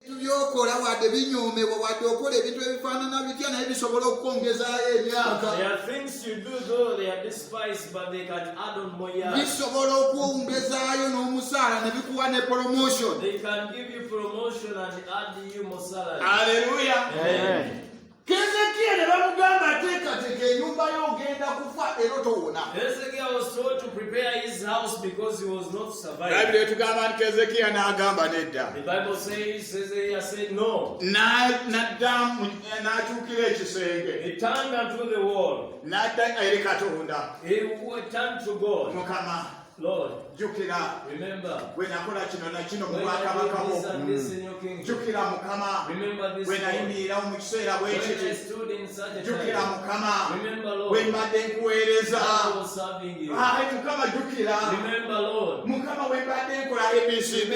ebintu byokola wadde binyoomebwa wadde okola ebintu ebifaanana bitya naye bisobola okukwongezaayo emyaka bisobola okwongezaayo n'omusaala ne bikuwa ne promotion aleluya Kezekia ne bamugamba teekateeka ennyumba yo ogenda kufa era otowona. Hezekia was told to prepare his house because he was not surviving. Bayibuli etugamba nti Kezekia n'agamba nedda. The Bible says Hezekia said no. N'addamu eh, n'akyukira ekisenge. He turned unto the wall. N'adda eri Katonda. He turned to God. Mukama. jjukira bwe nakola kino na kino mu bwakabaka bwo jjukira mukama bwe nayimirirawo mu kiseera bwe kiti jjukira mukama bwe mbadde nkuweereza ayi mukama jjukira mukama bwe mbadde nkola abcd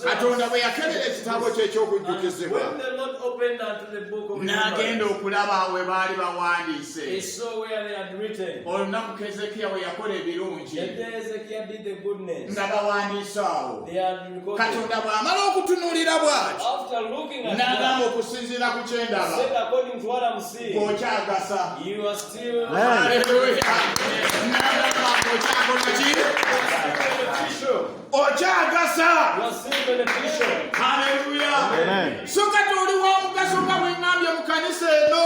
katonda bwe yakebera ekitabo kyekyokujjukizibwa n'agenda okulaba we baali bawandiise olunaku kezekiya bwe yakola ebirungi nga bawandiise awo katonda bw'amala okutunuulira bw'ati n'agamba okusinziira ku kyendaba okyagasa aleluya n'agamba okyakola ki okyagasa haleluya so kati oli wa mugaso nga bwengambye mu kanisa eno